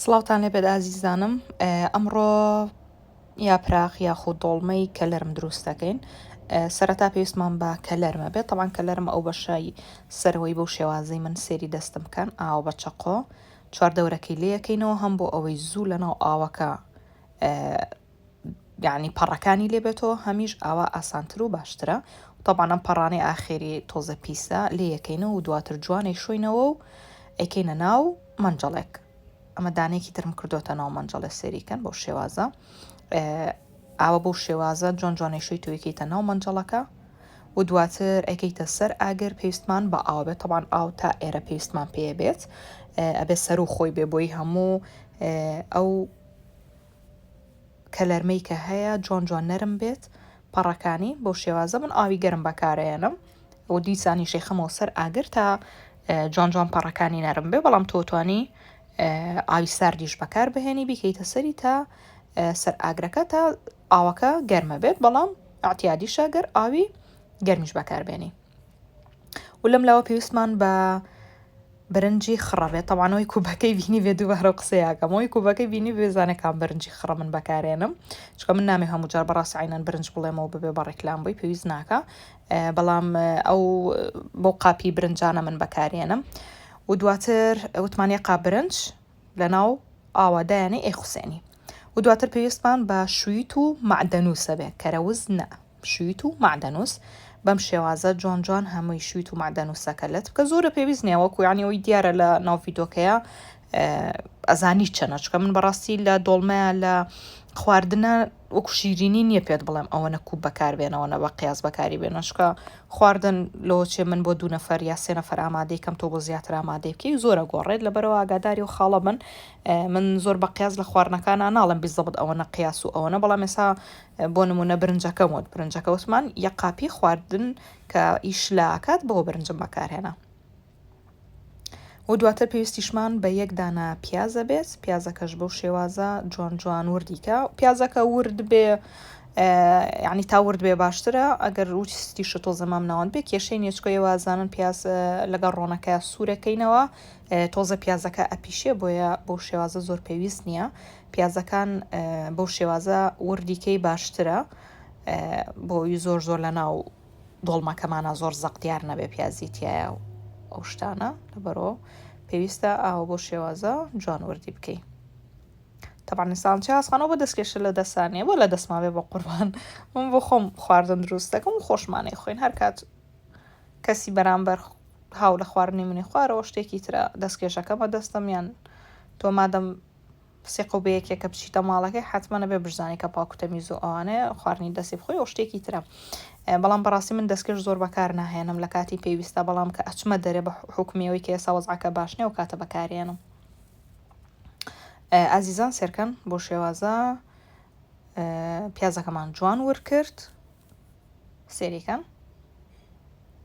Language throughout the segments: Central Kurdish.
سڵاوتان لێبێت ئازیزانم ئەمڕۆ یا پراخ یاخود دۆڵمەی کەلەرم دروست دەکەین سەرەتا پێویستمان بە کەلەرمە بێت تەوان کەلەرم ئەو بەشایی سەرەوەی بەو شێوازەی من سێری دەستم بکەن ئاوە بە چەقۆ چواردەورەکەی لەکەینەوە هەم بۆ ئەوەی زوو لەناو ئاوەکە یعنی پەڕەکانی لێ بێتەوە هەمیش ئاوا ئاسانتر و باشترە طبعا ئەم پەڕانەی ئاخێری تۆزە پیسە لێ یەکەینە و دواتر جوانەی شوینەوە و ئەیکەینە ناو مەنجەڵێک ئەمە دانێکی ترم کردوتە ناو مەنجەڵێ سێریکەن بۆ شێوازە ئاوە بۆ شێوازە جۆن جوانەی شوی تویکەیتە ناو مەنجەڵەکە و دواتر ئەگەیتە سەر ئاگەر پێویستمان بە ئاو بێت تەوان ئاو تا ئێرە پێویستمان پێ بێت ئەبێت سەر و خۆی بێ بۆی هەموو ئەو کەلەرمەی کە هەیە جۆن جۆن نەرم بێت پەڕەکانی بەو شێوازە من ئاوی گەرم بەکارەیەنم و دیسانی شێخەمەوە سەر ئاگر تا جۆن جۆن پەڕەکانی نەرم بێ بەڵام تۆتوانی ئاوی ساردیش بەکار بهێنی بیکەیتە سەری تا سەر ئاگرەکە تا ئاوەکە گەرمە بێت بەڵام ئاعتیادیشە گەر ئاوی گەرمیش بەکاربێنی و لەم لاوە پێویستمان بە برنجی خڕە بێت تەوانەوەی کوبەکەی بینی بێ دوو بەرە قسەیەکەمەوەی کوبەکەی بینی بێزانەکان برنجی خڕە من بەکارێنم چکە من نامێ هەموو جار بەڕاست عینەن برنج بڵێمەوە ببێ بە ڕێکلام بووی پێویست ناکە بەڵام ئەو بۆ قاپی برنجانە من بەکارێنم و دواتر وتمانە قا برنج لە ناو ئاوادایانی ئەی حوسێنی و دواتر پێویستمان بە شویت و معدەنووسە بێ کەرەوز نە شویت و مەعدەنووس بەم شێوازە جۆن جۆن هەمووی شویت و مەعدەنووسەکە لەت بکە زۆرە پێویست نیە وەکو یعنی ئەوی دیارە لە ناو ڤیدۆکەیە ئەزانی چەنە چکە من بەڕاستی لە دۆڵمەیە لە خواردنە وەکو شیرینی نییە پێت بڵێم ئەوە نەکوب بەکاربێنەوە نە بە قیاس بەکاری بێنە شکە خواردن لۆچێ من بۆ دوو نەفەر یا سێ نەفەر ئامادەی کەم تۆ بۆ زیاتر ئامادەی بکەی زۆرە گۆڕێت لەبەرەوە ئاگاداری و خاڵە بن من زۆر بە قیاس لە خواردنەکانە ناڵم بیزەبت ئەوە نە قیاس و ئەوەنە بەڵام ێسا بۆ نمونە برنجەکەم وت برنجەکە وتمان یە قاپی خواردن کە ئیش لە ئاکات بەوە برنجم بەکارهێنا و دواتر پێویستیشمان بە یەک دانە پیازە بێت پیازەکەش بەو شێوازە جوان جوان وردیکە پیازەکە ورد بێ یعنی تا ورد بێ باشترە ئەگەر روستی شتۆ زەمام ناوان بێ کێشەی نێچکۆی وازانن پیاز لەگەڵ ڕۆنەکە سوورەکەینەوە تۆزە پیازەکە ئەپیشێ بۆیە بۆ شێوازە زۆر پێویست نییە پیازەکان بەو شێوازە وردی کەی باشترە بۆ ئەوی زۆر زۆر لە ناو دۆڵمەکەمانە زۆر زەق دیار نەبێ پیازی تایە و ئەو شتانە لەبەرۆ پێویستە ئاوە بۆ شێوازە جوان وردی بکەی تەبانی ساڵچ هاسخانەوە بە دەستکێشە لە دەسانێ بۆ لە دەستماێ بە قوربان من بۆ خۆم خواردن دروست دەکەم و خۆشمانەی خوێن هەر کات کەسی بەرامبەر هاو لە خواردنی منی خوارەوە شتێکی ترە دەستکێشەکەمە دەستم یان تۆ مادەم قسەی قەو بەیەکێ کە بچیتە ماڵەکەی حتمما نەبێ بشزانی کە پاکو تەمیز و ئەوانێ خواردنی دەستی بخۆی ئەو شتێکی ترە بەڵام بەڕاستی من دەستکرد زۆر بەکار ناهێنم لە کاتی پێویستە بەڵام کە ئەچمە دەرێ بە حکومیەوەی کە ئێسا وەزعەکە باش نیە و کاتە بەکارێنم ئازیزان سێرکەن بۆ شێوازە پیازەکەمان جوان ورکرد سێریکەن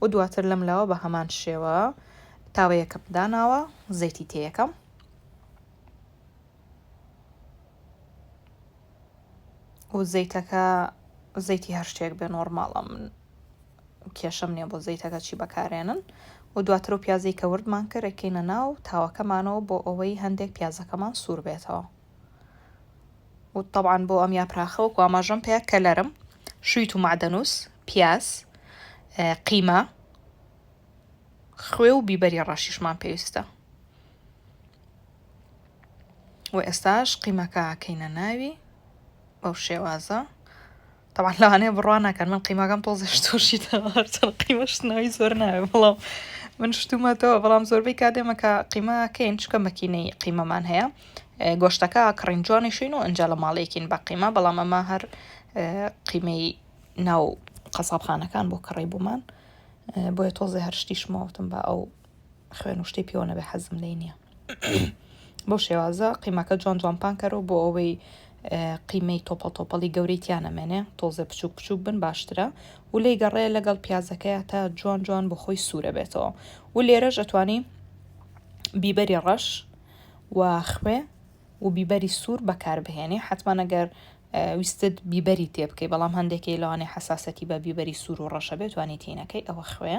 و دواتر لەم لاوە بە هەمان شێوە تاوەیەکەم داناوە زەیتی تێیەکەم و زەیتەکە زەیتی هەر شتێک بێ نۆرماڵە من کێشەم نییە بۆ زەیتەکە چی بەکارێنن و دواتر و پیازی کە وردمان کرێکەینە ناو تاوەکەمانەوە بۆ ئەوەی هەندێک پیازەکەمان سوور بێتەوە و طبعا بۆ ئەم یاپراخە وەکو ئاماژەم پێ کەلەرم شویت و معدەنوس پیاز قیمە خوێ و بیبەری ڕەشیشمان پێویستە و ئێستاش قیمەکە کەینە ناوی بەو شێوازە تەبعەن لەوانەیە بڕوا نەکەن من قیمەکەم تۆزێش تۆشیتەوە هەرچەند قیمە شتنەوەی زۆر ناوێ بەڵام من شتومەتەوە بەڵام زۆربەی کاتێمەکە قیمەکەین چکە مەکینەی قیمەمان هەیە گۆشتەکە کڕین جوانیشین و ئەجا لە ماڵێکین بە قیمە بەڵام ئەمە هەر قیمەی ناو قەسابخانەکان بۆ کڕی بوومان بۆیە تۆزێ هەر شتیشمەوتم بە ئەو خوێن و شتی پێوە نەبێ حەزم لێی نییە بەو شێوازە قیمەکە جوان جوان پانکەرەوە بۆ ئەوەی قیمەی تۆپەڵ تۆپەڵی گەورەی تیانەمێنێ تۆزێ بچوک بچوک بن باشترە و لی گەڕێ لەگەڵ پیازەکەیە تا جوان جوان بۆ خۆی سوورە بێتەوە و لێرەش ئەتوانی بیبەری ڕەش و خوێ و بیبەری سوور بەکاربهێنی حتممانەگەر ویستت بیبەری تێ بکەی بەڵام هەندێکی لەوانێ حساسەتی بە بیبەری سوور و ڕەشە بێتوانی تینەکەی ئەوە خوێ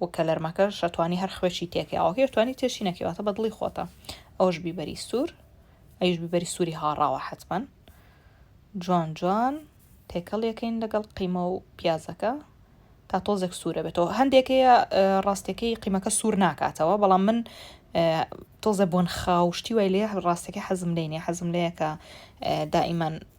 و کەلەرمەکەش شەتوانی هەر خوێکی تێکەی ئاوەکەی شتوانی تێشی نەکەی واتە بە دڵی خۆتە ئەوش بیبەری سوور ئەیش بیبەری سووری هاڕاوە حەتمەن جوان جوان تێکەڵ یەکەین لەگەڵ قیمە و پیازەکە تا تۆزێک سوورە بێتەوە هەندێکەیە ڕاستەکەی قیمەکە سوور ناکاتەوە بەڵام من تۆزە بۆن خاوشتی وای لێ ڕاستەکە حەزم لێنێ حەزم لەیەکە دائیمەن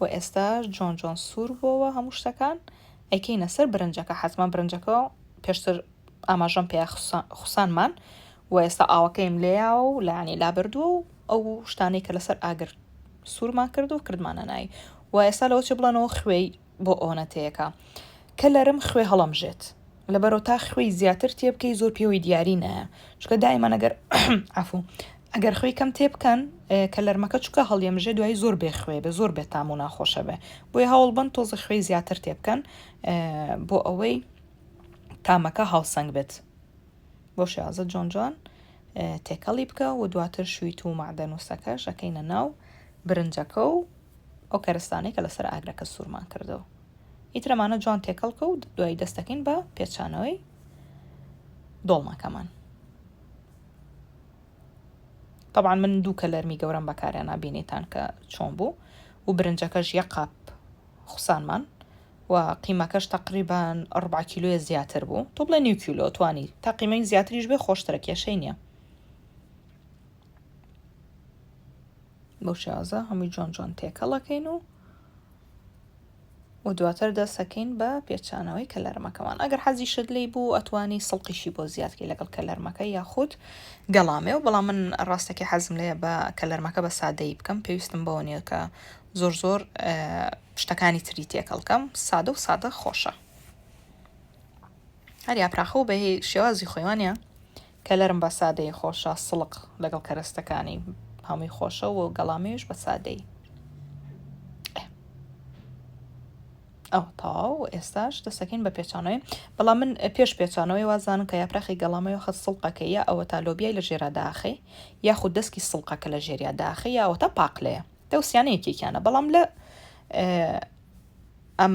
و ئێستا جۆن جۆن سوور بۆوە هەموو شتەکان ئەیکەینە سەر برنجەکە حەزمان برنجەکە پێشتر ئاماژەم پێ خوسانمان و ئێستا ئاوەکەیم لێیاوە و لانی لابردووە و ئەو شتانەی کە لەسەر ئاگر سوورمان کرد و کردمانە نای و ئێستا لەەوە چ بڵێنەوە خوێی بۆ ئۆنەتەیەکە کە لەرم خوێ هەڵەمژێت لەبەرەوە تا خوێی زیاتر تێبکەی زۆر پێوەی دیاری نایە چکە دایمە نەگەر عفو ئەگەر خوێی کەم تێبکەن کە لەرمەکە چکە هەڵیەمژێ دوای زۆر بێ خوێ بێ زۆر بێت تام و ناخۆشە بێ بۆی هەوڵ بن تۆزە خوێی زیاتر تێبکەن بۆ ئەوەی تامەکە هاوسەنگ بێت بۆ شازە جۆن جۆن تێکەڵی بکە و دواتر شویت و معدەنووسەکەش ئەەکەینە ناو برنجەکە و ئەو کەرستانەی کە لەسەر ئاگرەکە سوورمان کردەوە. ئیتر ئەمانە جوان تێکەڵ بکە و دوایی دەست دەکەین بە پێچانەوەی دۆڵمەکەمان. تەبعان من دوو کەلەرمی گەورەم بەکاریان نابینیتان کە چۆن بوو و برنجەکەش یە قاپ خوسانمان و قیمەکەش تقریبان ڕبع کیلوە زیاتر بوو تۆ بڵێ نیو کیلۆ توانی تا قیمەی زیاتریش بێ خۆشترە کێشەی نییە بەو شێوازە هەمووی جۆن جۆن تێکەڵەکەین و و دواتر دەسەکەین بە پێچانەوەی کەلەرمەکەمان ئەگەر حەزی شت لی بوو ئەتوانی سڵقیشی بۆ زیادکی لەگەڵ کەلەرمەکە یاخود گەڵامێ و بەڵام من ڕاستەکە حەزم لێ بە کەلەرمەکە بە سادەی بکەم پێویستم بەوە نیە کە زۆر زۆر شتەکانی تری تێکەڵکەم سادە و سادە خۆشە هەر یاپراخە و بەهی شێوازی خۆیوانە کەلەرم بە سادەیی خۆشە سڵق لەگەڵ کەرەستەکانی هەمووی خۆشە و گەڵامێش بە سادەیی ئەو تاو ئێستاش دەسەکەین بە پێچانەوەی بەڵام من پێش پێچانەوەی وازانم کە یاپراخی گەڵامەوە خەت سڵقەکە یا ئەوە تا لۆبیای لە ژێرا داخی یاخود دەستکی سڵقەکە لە ژێریا داخی یاوە تا پاقلەیە دەوسیانەیەکێکیانە بەڵام لە ئەم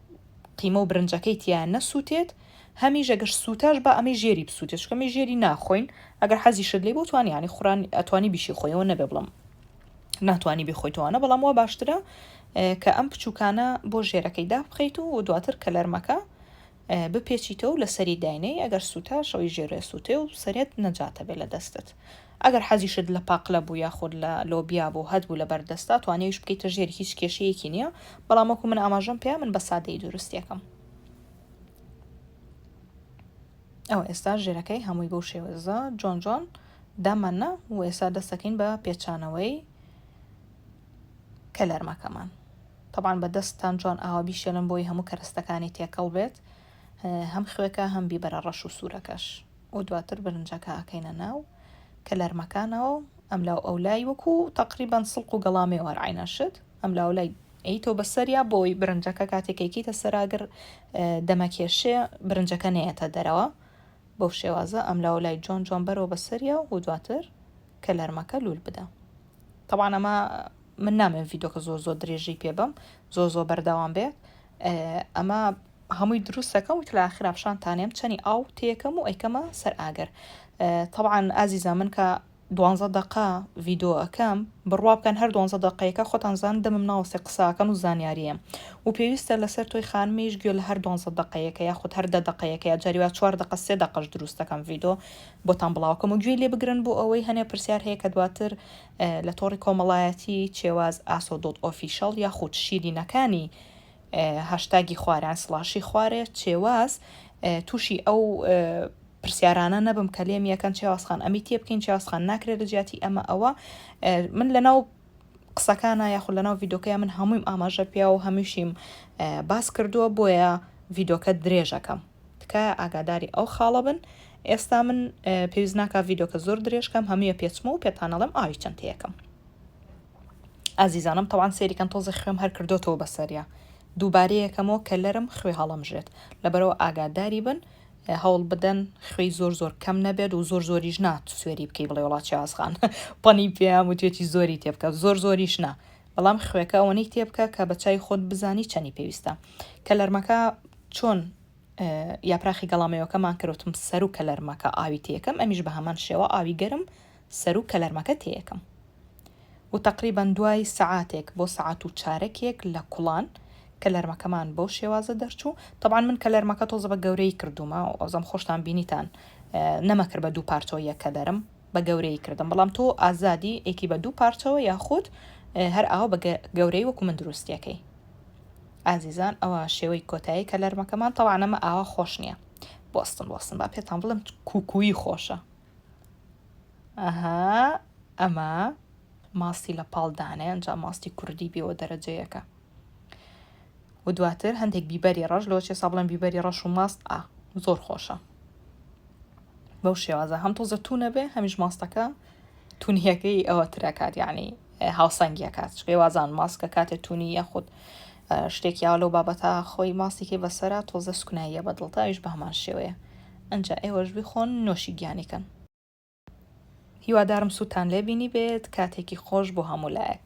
قیمە و برنجەکەی تیا نەسوتێت هەمیش ئەگەر سوتاش با ئەمەی ژێری بسوتێت چونکە ئەمەی ژێری ناخۆین ئەگەر حەزیشت لێ بوو توانی یانی خوران ئەتوانی بیشی خۆیەوە نەبێ بڵم ناتوانی بخۆیتەوانە بەڵام وا باشترە کە ئەم بچووکانە بۆ ژێرەکەی دابخەیت و دواتر کەلەرمەکە بپێچیتەوە لە سەری داینەی ئەگەر سووتا شەوی ژێرێ سووتێ و سەرێت نەجاتە بێ لە دەستت ئەگەر حەزیشت لە پاقلە بوو یاخود لە لۆبیا بوو هەتبوو لەبەر دەستە توانیویش بکەیتە ژێری هیچ کێشەیەکی نیە بەڵام وەکو من ئاماژەم پێ من بە سادەیی دروستیەکەم ئەوە ئێستا ژێرەکەی هەمووی بەو شێوەزە جۆن جۆن داماننا و ئێستا دەستەکەین بە پێچانەوەی کەلەرمەکەمان طبعاان بە دەستان جوان ئاوا بیشێلن بۆی هەموو کەرەستەکانی تێکەڵ بێت هەم خوێکە هەم بیبەرە ڕەش و سوورەکەش و دواتر برنجەکە ئەکەینە ناو کەلەرمەکانەوە و ئەملاو ئەولای وەکو تەقریبەن سڵق و گەڵا مێوار عینە شت ئەملاو ئەولای ئەیتۆ بەسەریا بۆی برنجەکە کاتێکێکیتە سەراگر دەمەکێشێ برنجەکە نەیەتە دەرەوە بەو شێوازە ئەملاو لای جۆن جۆن بەرەوە بەسەریا و دواتر کەلەرمەکە لول بدە طبعا ئەمە من نامێن ڤیدۆکە زۆر زۆر درێژی پێ بم زۆر زۆر بەردەوام بێت ئەمە هەمووی دروستەکەم وت لە ئاخرا پیشان تانێم چەنی ئاو تێکەم و ئەیکەمە سەر ئاگەر طبعاان ئازیزە من کە دوانزە دقا ڤیددیوەکەم بڕوا بکەن هەر دوانزە دقەیەەکە خۆتان زان دەمم ناوەسێ قساکەم و زانیاریە و پێویستە لەسەر تۆی خانمیش گوێ لە هەر دوانزە دقەیەەکە یاخود هەر دە دقەیەەکە یا جاریوا چوار دقە سێ دقەش دروستەکەم ڤیددیو بۆتان بڵاوکەم و گوێ لێ بگرن بۆ ئەوەی هەنێ پرسیار هەیە کە دواتر لە تۆڕی کۆمەڵایەتی چێواز ئاسۆ دۆت ئۆفیشەڵ یاخود شیرینەکانی هاشتاگی خواران سڵاشی خوارێ چێواز تووشی ئەو پرسیارانە نەبم کە لێم یەکەن چێوازخان ئەمی تێ بکەین چێوازخان ناکرێت لە جیاتی ئەمە ئەوە من لەناو قسەکانە یاخود لەناو ڤیدۆکەیە من هەموویم ئاماژە پیا و هەمیشیم باس کردووە بۆیە ڤیدۆکە درێژەکەم تکایە ئاگاداری ئەو خاڵە بن ئێستا من پێویست ناکە ڤیدۆکە زۆر درێژکەم هەمویە پێچمە و پێتانەڵم ئاوی چەندەکەم ئازیزانم تەوان سەیری کەن تۆزێ خوێم هەر کردۆتەوە بەسەریا دووبارەیەکەمەوە کە لەرم خوێ هەڵەمژێت لەبەرەوە ئاگاداری بن هەوڵ بدەن خوێی زۆر زۆر کەم نەبێت و زۆر زۆریش نات سوێری بکەی بڵێ وڵات چاسخان پەنی پێیان و توێتی زۆری تێبکە زۆر زۆریش نا بەڵام خوێکە ئەوەنەی تێبکە کە بە چای خۆت بزانی چەنی پێویستە کە لەرمەکە چۆن یاپراخی گەڵامەیەکەمان کەوتم سەر و کە لەرمەکە ئاوی تێکەم ئەمیش بە هەمان شێوە ئاوی گەرم سەروو کەلەرمەکە تێیەکەم و تەقریبەن دوای سەعاتێک بۆ سەعات و چارەکێک لە کوڵان کەلەرمەکەمان بەو شێوازە دەرچوو تەبان من کەلەرمەکە تۆزە بە گەورەی کردومە و ئەوزەم خۆشتان بینیتان نەمەکرد بە دوو پارچەوە یەکە دەرم بە گەورەی کردم بەڵام تۆ ئازادی ئێکی بە دوو پارچەوە یاخود هەر ئاو بە گەورەی وەکو من دروستیەکەی ئازیزان ئەوە شێوەی کۆتایی کەلەرمەکەمان تەوانەمە ئاوا خۆش نییە بۆستن وەستن با پێتان بڵم کوکویی خۆشە ئەها ئەمە ماستی لە پاڵ دانێ ئەجا ماستی کوردی بێەوە دەرەجەیەەکە و دواتر هەندێک بیبەری ڕەش لۆچێ سابڵم بیبەری ڕەش و ماست ئا زۆر خۆشە بەو شێوازە هەم تۆزە توونە بێ هەمیش ماستەکە تونهەکەی ئەوە ترەکات یعنی هاوسەنگیەکات چکەی وازان ماسکە کاتێ تونی یاخود شتێکی ئاوا لەو بابەتە خۆی ماستی کەی بەسەرە تۆزە سوکناییە بە دڵتە ئەویش بەهەمان شێوەیە ئەنجا ئێوەش بیخۆن نۆشی گیانی کەن. هیوادارم سوودتان لێ بینیبێت کاتێکی خۆش بۆ هەموو لایەک.